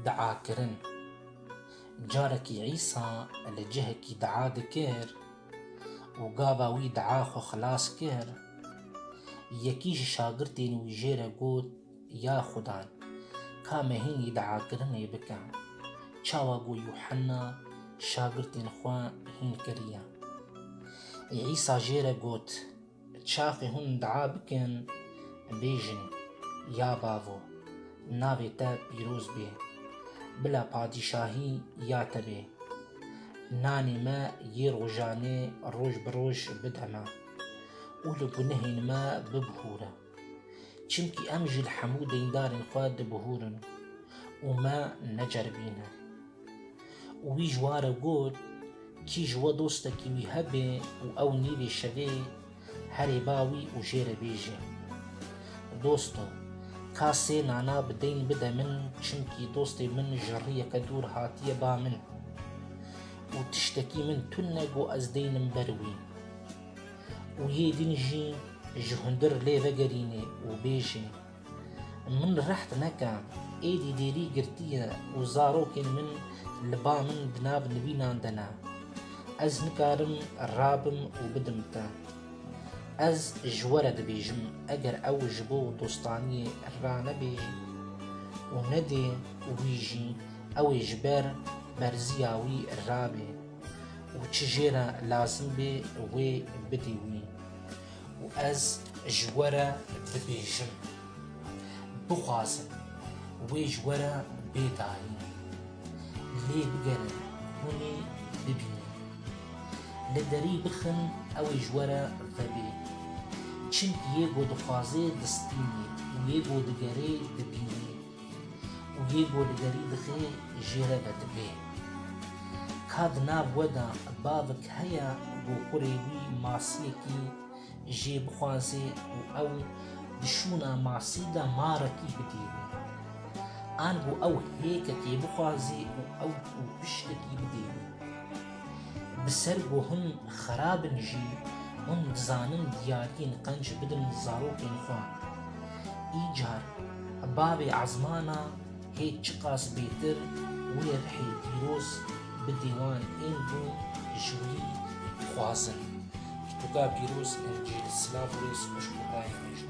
Diakirin Carekî Îsa li cihekî dia dikir û gava wî dia xwe xilas kir. Yekî ji şagirtên wî jê re got, Ya Xuda, ka me hînî diakirinê bike, çawa ku Yuhanna şagirtên xwe hîn kiriye. Îsa jê re got, Çaxê hûn dua bikin, bêjin, Ya bavo, navê te pîroz bê, bila padîşahî ya te bê. Nanê me yê rojanê roj bi roj bide me û li gunehên me bibihûre. Çimkî em ji li hemû deyndarên xwe dibuhûrin û me neceribîne. Û wî ji wan re got, Kî ji we dostekî wî hebe û ew nîvê şevê herê ba wî û jê re bêje, Dosto, ka sê nana bi deyn bide min çimkî dostê min ji riyeke dûr hatiye ba min û tiştekî min tune got ez deynim ber wî. Û yê din jî ji hundir lê vegerîne û bêje, Min reht neke, êdî dêrî girtiye û zarokên min li ba min di nav nivînan de ne. Ez nikarim rabim û bidim te. Ez ji we re dibêjim eger ew ji bo dostaniyê ranebêje û nedê wî jî, ew ê ji ber berziya wî rabê. û çi jê re lazim bê wê bidî wî û ez ji we re dibêjim, bixwazin wê ji we re bê dayîn. Lê bigerin hûn ê bibînin. Li derî bixin ew ê ji we re vebê. Çimkî yê ku dixwazê distînê û yê ku digerê dibînê. Û hê bo li derî dixê jê re ve dibê. Ka di nav we de bavik heye ku kurê wî masiyekî jê bixwazê û ew di şûna masî de marekî bidîrî. Ango ew hêkekê bixwazê û ew û piştekî bidîrî. Bi ser ku hûn xerab in jî, hûn dizanin diyariyên qenc bidin zarokên xwe. Îcar bavê ezmana hê çiqas bêtir wê rihê pîroz bidê wan ên ku ji wî dixwazin. Pirtûka pîroz ên ji silav wê xweş û rayê me jî.